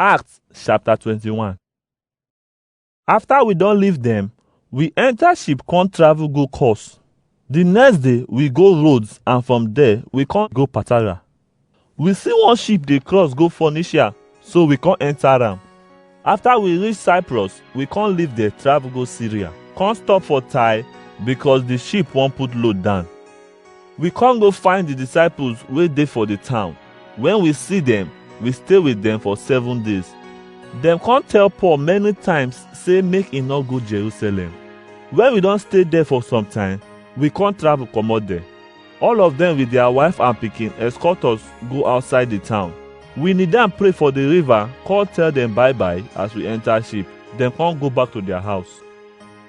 Acts chapter 21. After we don leave them, we enter ship come travel go Kos. The next day, we go Rhodes and from there, we come go Patara. We see one ship dey cross go Phoenicia, so we come enter am. After we reach Cyprus, we come leave there travel go Syria. Come stop for Tyre because the ship wan put load down. We come go find the disciples wey dey for the town. When we see them, we stay with them for seven days. Dem come tell Paul many times say make e no go Jerusalem. When we don stay there for some time, we come travel comot there. All of them with their wife and pikin escort us go outside the town. We kneel down pray for the river, come tell them bye bye as we enter ship. Dem come go back to their house.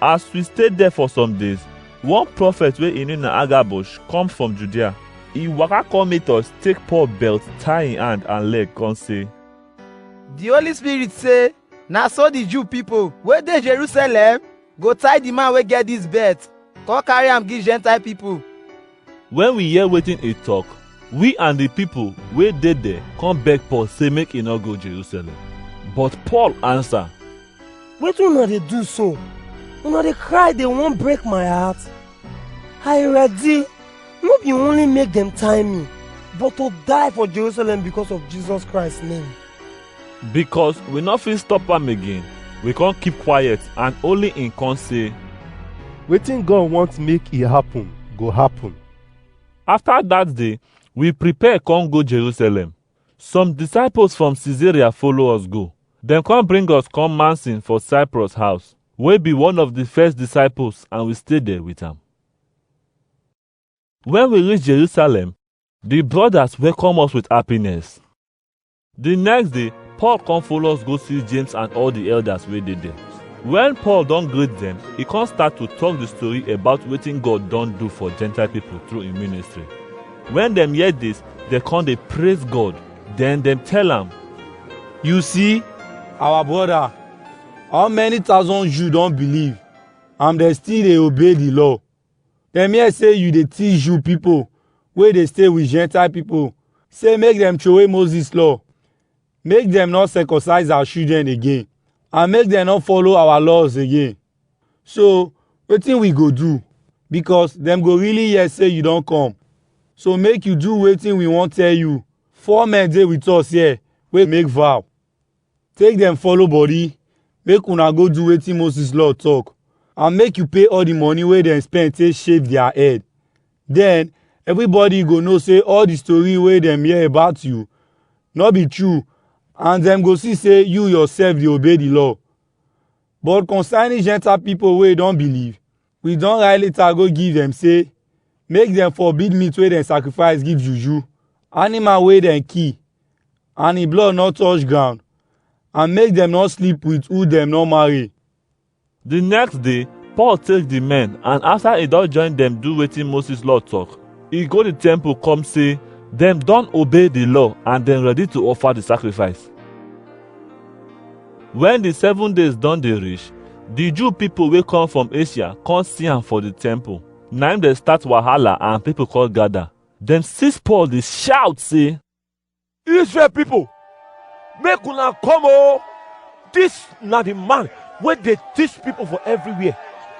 As we stay there for some days, one prophet wey im name na Agabus come from Judea. He waka come meet us, take Paul belt, tie im hand and leg, come say, The Holy Spirit say, na so the Jew people wey dey Jerusalem go tie the man wey get this belt, come carry am give Gentile people. Wen we hear wetin e tok, we and di pipo wey dey there come beg Paul sey make e no go Jerusalem. But Paul ansa, Wetin una dey do so? Una dey cry dey wan break my heart? I ready, no be only make dem tie mi, but to die for Jerusalem because of Jesus Christ name. Because we no fit stop am again, we come keep quiet and only him come say, Wetin God want make e happen go happen. After that day, we prepare come go Jerusalem. Some disciples from Caesarea follow us go. Dem come bring us come Mansin for Cyprus house, wey be one of the first disciples and we stay there with am. When we reach Jerusalem, the brothers welcome us with happiness. The next day, Paul come follow us go see James and all the elders wey dey there. When Paul don greet them, he come start to talk the story about wetin God don do for Gentile people through him ministry. When dem hear this, dem come dey praise God. Then dem tell am, You see, our brother, how many thousand Jews don believe and dem still dey obey the law. Dem hear sey yu dey teach Jew pipo wey dey stay wit Gentile pipo sey make dem trowey Moses Law, make dem nor circumcise our children again, and make dem nor follow our laws again. So, wetin wi go do? Bikos dem go really hear sey yu don kom. So make yu do wetin wi won tell yu, four men dey wit us here wey make vow. Take dem follow body, make una go do wetin Moses law talk, and make you pay all the money wey dem spend take shave their head. Then, everybody go know say all the story wey dem hear about you no be true and dem go see say you yourself dey obey the law. But concerning Gentile people wey don believe, We don write letter go give dem say make dem forbid meat wey dem sacrifice give juju, animal wey dem kill and e blood no touch ground and make dem no sleep with who dem no marry. The next day, Paul take the men and after he don join them do wetin Moses law talk, he go the temple come say them don obey the law and them ready to offer the sacrifice. Wen di seven days don dey reach, di Jew pipo wey come from Asia come see am for di temple. Na im dem start wahala and pipo come gada. Dem seize Paul dey shout sey, Israel pipo, make una come o! Dis na di man wey dey teach pipo for evriwhere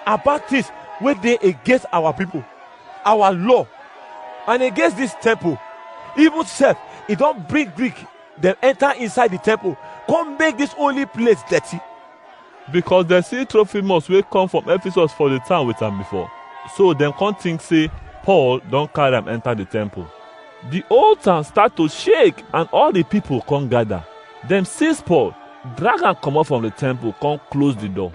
about tins wey dey against our pipo, our law and against dis temple. Even sef e don bring Greek. dem enter inside the temple, come make this holy place dirty. because dem see trophimus wey come from ephesus for the town with am before so dem come think say paul don carry am enter the temple the whole town start to shake and all the people come gather dem seize paul drag am comot from the temple come close the door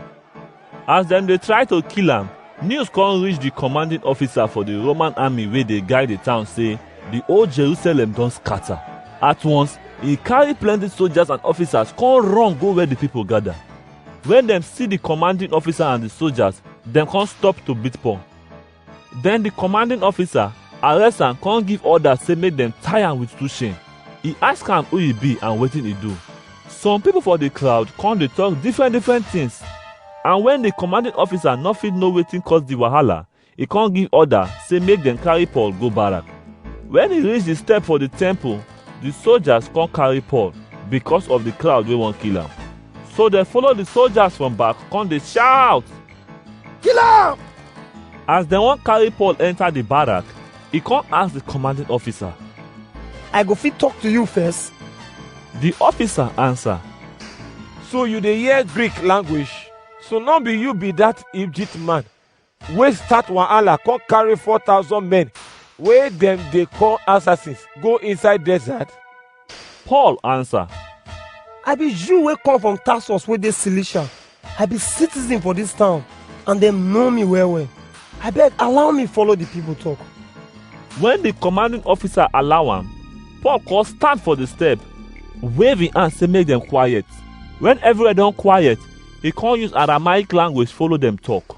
As dem dey try to kill am, news come reach the commanding officer for the Roman army wey dey guide the town say the whole Jerusalem don scatter. At once, he carry plenty soldiers and officers come run go where the people gather. When dem see the commanding officer and the soldiers, dem come stop to beat Paul. Then the commanding officer arrest am come give order say make dem tie am with two chain. He ask am who he be and wetin he do. Some people for the crowd come dey talk different different things. And when the commanding officer no fit know wetin cause the wahala, he come give order say make dem carry Paul go barrack. When he reach the step for the temple, the soldiers come carry Paul because of the crowd wey wan kill am. So dem follow the soldiers from back come dey shout. Kill am! As dem wan carry Paul enter the barrack, he come ask the commanding officer. I go fit talk to you first. The officer answer, So you dey hear Greek language? So no be you be that Egypt man wey start wahala come carry four thousand men wey dem dey call assassins go inside desert? Paul answer, I be Jew wey come from Tarsus wey dey Cilicia. I be citizen for dis town and dem know me well well. Abeg allow me follow the people talk. When the commanding officer allow am, Paul come stand for the step, wave him hand say make dem quiet. When everywhere don quiet, he come use Aramaic language follow dem talk.